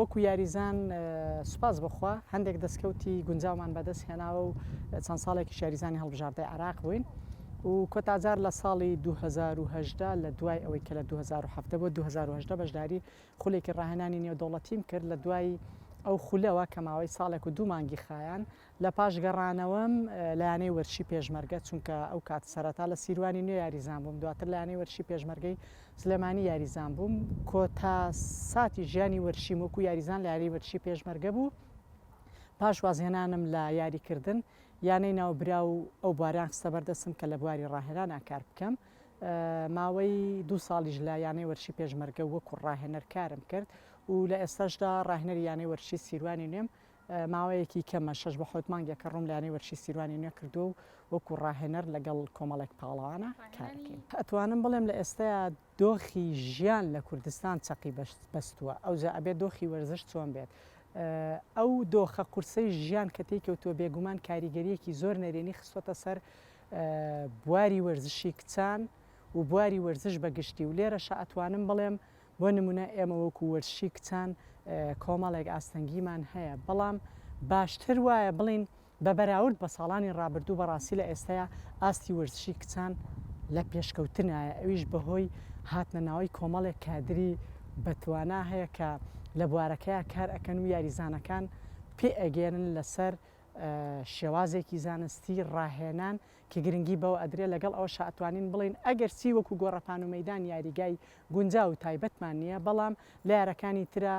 وەکو یاریزان سوپاس بخوا هەندێک دەستکەوتی گونجاومان بەدەست هێناوە و چەند ساڵێکی شاریزانی هەڵبژاردەی عراق بووین. و کۆتا جار لە ساڵی دوو هەزار و هەژدە لە دوای ئەوەی کە لە دوو هەزار و حەڤدە بۆ دوو هەزار و هەژدە بەشداری خولێکی ڕاهێنانی نێودەوڵەتیم کرد لە دوای ئەو خولەوە کە ماوەی ساڵێک و دوو مانگی خایاند لە پاش گەڕانەوەم لە یانەی وەرشی پێشمەرگە چونکە ئەو کات سەرەتا لە سیروانی نوێ یاریزان بووم دواتر لە یانەی وەرشی پێشمەرگەی سلێمانی یاریزان بووم کۆتا ساتی ژیانی وەرشیم وەکو یاریزان لە یاری وەرشی پێشمەرگە بوو پاش وازهێنانم لە یاریکردن یانەی ناوبراو و ئەو بواریان خستە بەر دەستم کە لە بواری ڕاهێنانا کار بکەم. ماوەی دوو ساڵیش لە یانەی وەرشی پێشمەرگە وەکوو ڕاهێنەر کارم کرد و لە ئێستاشدا ڕاهێنەری یانەی وەرشی سیروانی نوێم. ماوەیەکی کەمە شەش بۆ حەوت مانگێکە ڕووم لە یانەی وەرشی سیروانی نوێ کردووە و وەکوو ڕاهێنەر لەگەڵ کۆمەڵێک پاڵەوانە کار ئەکەین. ئەتوانم بڵێم لە ئێستەیا دۆخی ژیان لە کوردستان چەقی بەستووە، ئەوجا ئەبێت دۆخی وەرزش چۆن بێت؟ ئەو دۆخە قورسەی ژیان کە تێی کەوتووە بێگومان کاریگەرییەکی زۆر نەرێنی خستووەتە سەر بواری وەرزشی کچان و بواری وەرزش بە گشتی و لێرەشە ئەتوانم بڵێم بۆ نمونە ئێمە وەکو وەرزشی کچان کۆمەڵێک ئاستەنگیمان هەیە بەڵام باشتر وایە بڵێین بە بەراورد بە ساڵانی ڕابردوو بەڕاستی لە ئێستەیا ئاستی وەرزشی کچان لە پێشکەوتنایە ئەویش بەهۆی هاتنە ناوەی کۆمەڵێک کادری بەتوانا هەیە کە لە بوارەکەیا کار ئەکەن و یاریزانەکان پێ ئەگەیەنن لەسەر شێوازێکی زانستی ڕاهێنان کە گرنگی بەوە ئەدرێ لەگەڵ ئەوەشا ئەتوانین بڵێین ئەگەرچی وەکو گۆڕەپان و مەیدان یاریگای گونجاو و تایبەتمان نیە بەڵام لە یارەکانی ترا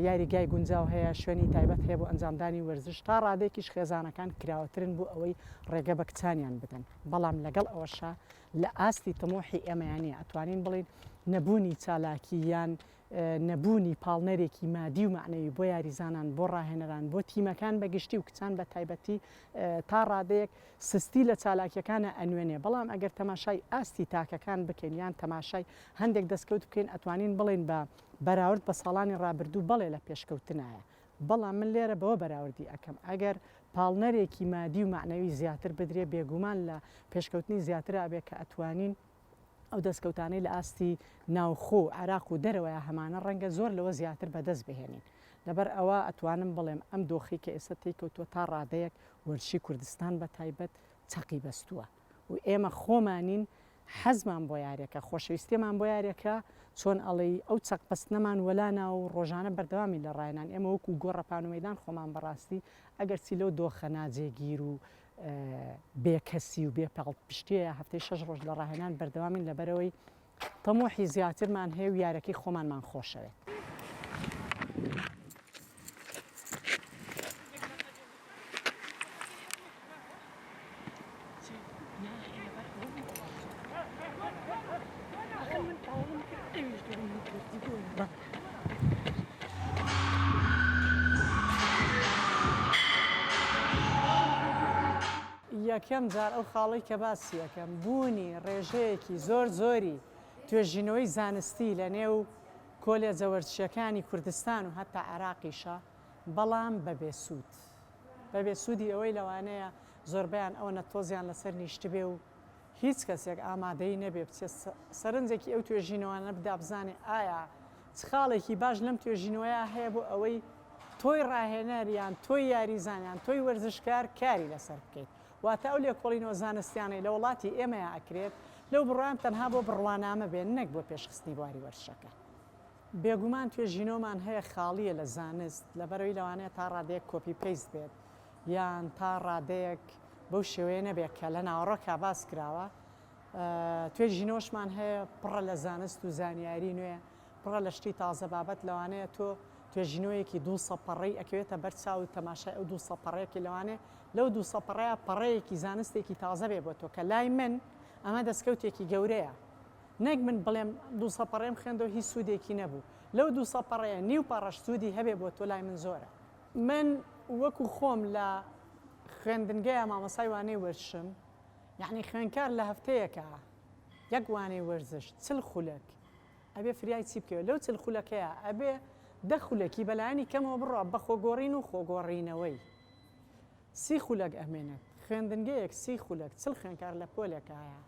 یاریگای گونجاو هەیە، شوێنی تایبەت هەیە بۆ ئەنجامدانی وەرزش، تا ڕادەیەکیش خێزانەکان کراوەترن بۆ ئەوەی ڕێگە بە کچانیان بدەن، بەڵام لەگەڵ ئەوەشا لە ئاستی تموحی ئێمەیان نییە، ئەتوانین بڵێین نەبوونی چالاکی یان نەبوونی پاڵنەرێکی مادی و مەعنەوی بۆ یاریزانان، بۆ ڕاهێنەران، بۆ تیمەکان بە گشتی و کچان بە تایبەتی تا ڕادەیەک سستی لە چالاکیەکانا ئەنوێنێ، بەڵام ئەگەر تەماشای ئاستی تاکەکان بکەین یان تەماشای هەندێک دەستکەوت بکەین ئەتوانین بڵێین بە بەراورد بە ساڵانی ڕابردوو بەڵێ لە پێشکەوتنایە، بەڵام من لێرە بەوە بەراوردی ئەکەم ئەگەر پاڵنەرێکی مادی و مەعنەوی زیاتر بدرێ بێگوومان لە پێشکەوتنی زیاتر ئەبێ کە ئەتوانین ئەو دەستکەوتانەی لە ئاستی ناوخۆ و عێراق و دەرەوەیە هەمانە ڕەنگە زۆر لەوە زیاتر بەدەست بهێنین لەبەر ئەوە ئەتوانم بڵێم ئەم دۆخەی کە ئێستا تێی کەوتووە تا ڕادەیەک وەرزشی کوردستان بە تایبەت چەقی بەستووە. و ئێمە خۆمانین حەزمان بۆ یارێکە خۆشەویستێمان بۆ یارێکە چۆن ئەڵێی ئەو چەق بەستنەمان وەلانا و ڕۆژانە بەردەوامی لە ڕایەنان ئێمە وەکو گۆڕەپان و مەدان خۆمان بەڕاستی ئەگەرچی لەو دۆخە ناجێگیر و بێکەسی و بێ پاڵ پشتێ هەفتەی شەش ڕۆژ لە ڕاهێنان بەردەوامین لەبەرەوەی تەموحی زیاترمان هەیە و یارەکەی خۆمانمان خۆشەوێت. یەکەم جار ئەو خاڵەی کە باسی ئەکەم بوونی ڕێژەیەکی زۆر زۆری توێژینەوەی زانستی لە نێو کۆلێجە وەرزشیەکانی کوردستان و هەتا عێراقیشە بەڵام بە بێ سوود بە بێ سوودی ئەوەی لەوانەیە زۆربەیان ئەوەنە تۆزیان لەسەر نیشتبێ و هیچ کەسێک ئامادەی نەبێ بچێت سەرنجێکی ئەو توێژینەوانە بدا بزانێ ئایا چ خاڵێکی باش لەم توێژینەوەیە هەیە بۆ ئەوەی تۆی ڕاهێنەر یان تۆی یاریزان یان تۆی وەرزشکار کاری لەسەر بکەیت واتە ئەو لێکۆڵینەوە زانستیانەی لە وڵاتی ئێمەیا ئەکرێت لەو بڕوام تەنها بۆ بڕوانامە بێ نەک بۆ پێشخستنی بواری وەرزشەکە بێگومان توێژینەوەمان هەیە خاڵیە لە زانست لەبەرەوەی لەوانەیە تا ڕادەیەک کۆپی پەیست بێت یان تا ڕادەیەک بەو شێوەیە نەبێت کە لە ناوەڕۆکا باس کراوە. توێژینەوەشمان هەیە پڕە لە زانست و زانیاری نوێ، پڕە لە شتی تازە بابەت، لەوانەیە تۆ توێژینەوەیەکی دوو سە پەڕەی ئەکەوێتە بەر چاوت تەماشای ئەو دوو سە پەڕەیەکی لەوانەیە لەو دوو سە پەڕەیە پەڕەیەکی زانستێکی تازە بێ بۆ تۆ کە لای من ئەمە دەسکەوتێکی گەورەیە نەک من بڵێم دوو سە پەڕەیم خوێندەوە هیچ سوودێکی نەبوو لەو دوو سە پەڕەیە نیو پەڕەش سوودی هەبێ بۆ تۆ لای من زۆرە. من وەکو خۆم لە خوێندنگەیا مامۆستای وانەی وەرشم یەعنی خوێنکار لە هەفتەیەکا یەک وانەی وەرزش چل خولەک ئەبێ فریای چی بکەوێ لەو چل خولەکەیا ئەبێ دە خولەکی بەلایەنی کەمەوە بڕا بە خۆگۆڕین و خۆگۆڕینەوەی سی خولەک ئەمێنێت خوێندنگەیەک سی خولەک چل خوێنکار لە پۆلێکایە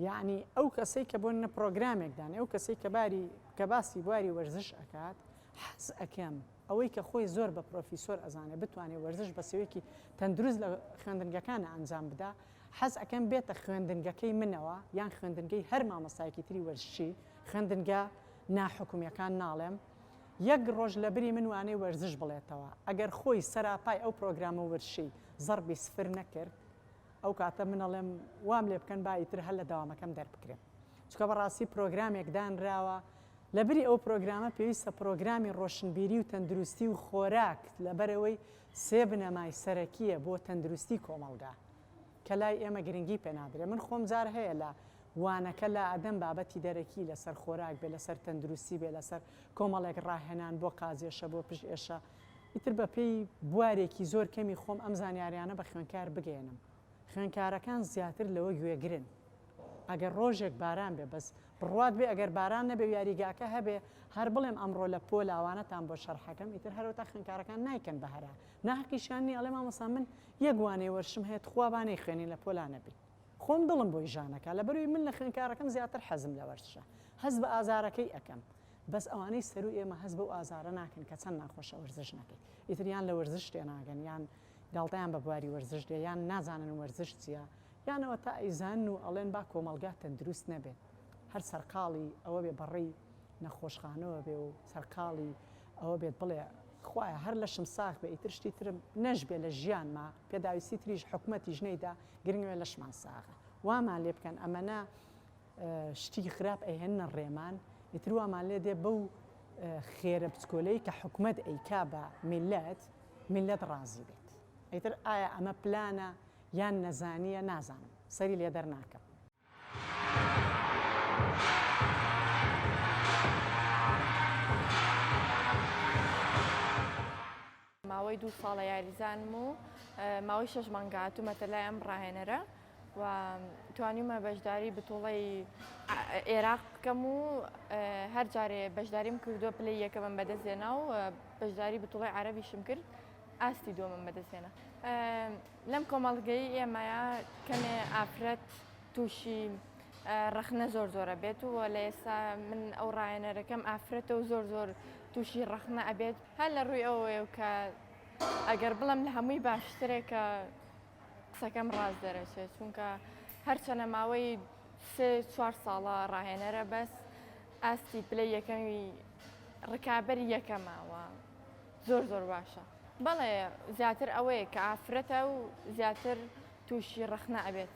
یەعنی ئەو کەسەی کە بۆنە پرۆگرامێکدان ئەو کەسەی کە باری کە باسی بواری وەرزش ئەکات حەز ئەکەم ئەوەی کە خۆی زۆر بە پرۆفیسۆر ئەزانێ بتوانێ وەرزش بە سێوەیەکی تەندروست لە خوێندنگەکانا ئەنجام بدا، حەز ئەکەم بێتە خوێندنگەکەی منەوە یان خوێندنگەی هەر مامۆستایەکی تری وەرزشی، خوێندنگە ناحکومیەکان ناڵێم، یەک ڕۆژ لە بری من وانەی وەرزش بڵێتەوە، ئەگەر خۆی سەراپای ئەو پرۆگرامە وەرزشی زەڕبی سفر نەکرد، ئەو کاتە من ئەڵێم وام لێ بکەن با ئیتر هەر لە دەوامەکەم دەربکرێم، چونکە بەڕاستی پرۆگرامێک دانراوە لە بری ئەو پرۆگرامە پێویستە پرۆگرامی ڕۆشنبیری و تەندروستی و خۆراک لەبەرئەوەی سێ بنەمای سەرەکیە بۆ تەندروستی کۆمەڵگا کە لای ئێمە گرنگی پێ نادرێ من خۆم جار هەیە لە وانەکە لا ئەدەم بابەتی دەرەکی لەسەر خۆراک بێ لەسەر تەندروستی بێ لەسەر کۆمەڵێک ڕاهێنان بۆ قازێشە بۆ پشت ئێشە ئیتر بە پێی بوارێکی زۆر کەمی خۆم ئەم زانیاریانە بە خوێنکار بگەیەنم خوێنکارەکان زیاتر لەوە گوێگرن. ئەگەر ڕۆژێک باران بێ بەس بڕوات بێ ئەگەر باران نەبێ و یاریگاکە هەبێ هەر بڵێم ئەمڕۆ لە پۆ لاوانەتان بۆ شەرحەکەم ئیتر هەرەوەتا خوێنکارەکان نایکەن بە هەرا ناهەقیشیان نیە ئەڵێ مامۆستا من یەک وانەی وەرشم هەیە تخوا با نەیخوێنین لە پۆلا نەبین خۆم دڵم بۆی ژان ئەکا لەبەروی من لە خوێنکارەکەم زیاتر حەزم لە وەرشە هەست بە ئازارەکەی ئەکەم بەس ئەوانەی سەروو ئێمە هەست بەو ئازارە ناکەن کە چەند ناخۆشە وەرزش نەکەی ئیتر یان لە وەرزش تێناگەن یان گاڵتەیان بە بواری وەرزش دێ یان نازانن وەرزش چیە یان ئەوەتا ئەیزانن و ئەڵێن با کۆمەڵگا تەندروست نەبێت هەر سەرقاڵی ئەوە بێ بەڕێی نەخۆشخانەوە بێ و سەرقاڵی ئەوە بێت بڵێ خوایە هەر لەشم ساغ بێ ئیتر شتی ترم نەشبێ لە ژیانما پێداویستی تریش حکومەتیش نەیدا گرنگ ئەوەیە لەشمان ساغە وامان لێ بکەن ئەمەنە شتی خراپ ئەیهێننە ڕێمان ئیتر وامان لێ دێ بەو خێرە بچکۆلەی کە حکومەت ئەیکا بە میللەت میللەت ڕازی بێت ئیتر ئایا ئەمە پلانە یان نەزانیە نازانم سەری لێدەر ناکەم. ماوەی دوو ساڵە یاریزانم و ماوەی شەش مانگە هاتوومەتە لای ئەم ڕاهێنەرە. و توانیومە بەشداری بتوڵەی ئێراق بکەم و هەر جارێ بەشداریم کردووە پلەی یەکەمم بەدەستێنا و بەشداری بتوڵی عربیشم کرد ئاستی دووەمم بەدەستێنا لەم کۆمەڵگەی ئێمەە کەمێ ئافرەت تووشی ڕەخنە زۆر زۆرە بێت و لە ئێستا من ئەو ڕایەنەرەکەم ئافرەتە و زۆر زۆر تووشی ڕەخنە ئەبێت هەر لە ڕووی ئەوەیە کە ئەگەر بڵم لە هەمووی باشترێکە قسەکەم ڕاست دەرەچێت چونکە هەرچەنە ماوەی سێ چوار ساڵە ڕاهێنەرە بەس ئاستی پلە یەکەمی ڕکابەر یەکەماوە زۆر زۆر باشە بەڵێ زیاتر ئەوەیە کە ئافرەتە و زیاتر تووشی ڕەخنە ئەبێت.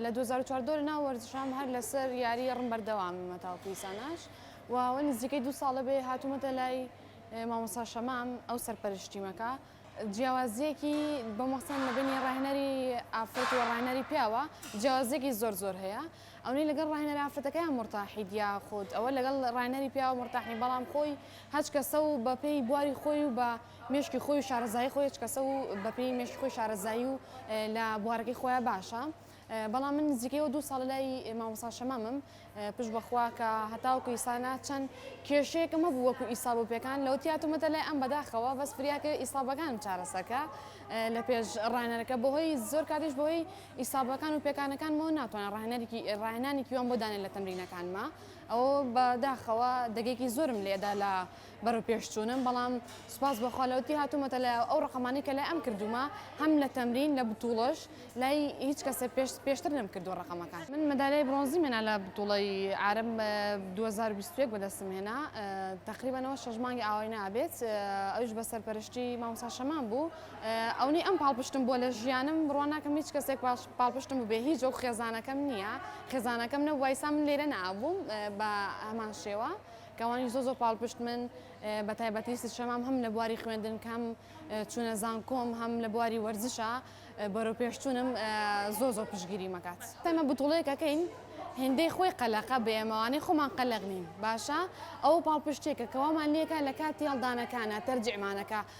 لە دوو هەزار و چواردە لە ناو وەرزشام هەر لەسەر یاری ڕم بەردەواممە تاوەکو ئیساناش و ئەوە نزیکەی دوو ساڵە بێ هاتوومەتە لای مامۆستا شەمام ئەو سەرپەرشتیمەکە جیاوازیەکی بەمەسەن لە بینی ڕاهێنەری ئافرەت و ڕاهێنەری پیاوە جیاوازێکی زۆر زۆر هەیە ئەونەی لەگەڵ ڕاهێنەر ئافرەتەکەیان مرتاحی دیا خۆت ئەوە لەگەڵ ڕاهێنەری پیاوە مرتاحی بەڵام خۆی هەچ کەسە و بەپێی بواری خۆی و بە مێشکی خۆی و شارەزایی خۆی هێچ کەسە و بە پێی مێشکی خۆی شارەزایی و لە بوارەکەی خۆیان باشە بەڵام من نزیکەی و دوو ساڵ لای مامۆسا شەمامم پشت بەخوا کە هەتاوکو ئیسانا چەند کێشەیەکم هەبوو وەکو ئیساب و پێکان لەو تیاتومەتە لای ئەم بەداخەوە بەس فریاکە ئیسابەکانم چارەسەکە لە پێش ڕانەرەکە بەهۆی زۆر کاتیش بەهۆی ئیسابەکان و پێکانەکانمەوە ناتوانە ڕاهێنەرێکی ڕاهێنانێکی وان بۆ دانێن لە تەمرینەکانمە ئەوە بەداخەوە دەگێکی زۆرم لێدا لە بەرەوپێشچوونم بەڵام سوپاس بۆ خوا لەوەتی هاتوومەتە لە ئەو ڕەقەمانەی کە لای ئەم کردوومە هەم لە تەمرین لە بتوڵەش لای هیچ کەسێ پێش پێشتر نەمکردووە ڕەقەمەکان من مەدالیای برۆنزیم هێنا لە بتوڵەی عارەب دوو هەزار و بیست و یەک بەدەستم هێنا تەقریبەن ئەوە شەش مانگی ئاوایی نابێت ئەویش بە سەرپەرشتی مامۆستا شەمام بوو ئەونەی ئەم پاڵپشتم بووە لە ژیانم بڕوا ناکەم هیچ کەسێک پاش پاڵپشتم بووبێ هیچ وەک خێزانەکەم نییە خێزانەکەم نەبوایسا من لێرە نەئابووم بە هەمان شێوە کەوانیش زۆر زۆر پاڵپشتمن بەتایبەتی سشەمام هەم لە بواری خوێندن کەم چونە زانکۆم هەم لە بواری وەرزشە بەرەو پێشتونم زۆر زۆر پشگیری مەکات تەمە بتوڵێکەکەین هێندەی خۆی قەلەقە بێمەوانەی خۆمان قەلەق نین باشە ئەو پاڵپشتێکە کەوامان لێکە لە کاتی هەڵدانەکانە تەرجیعمانەکە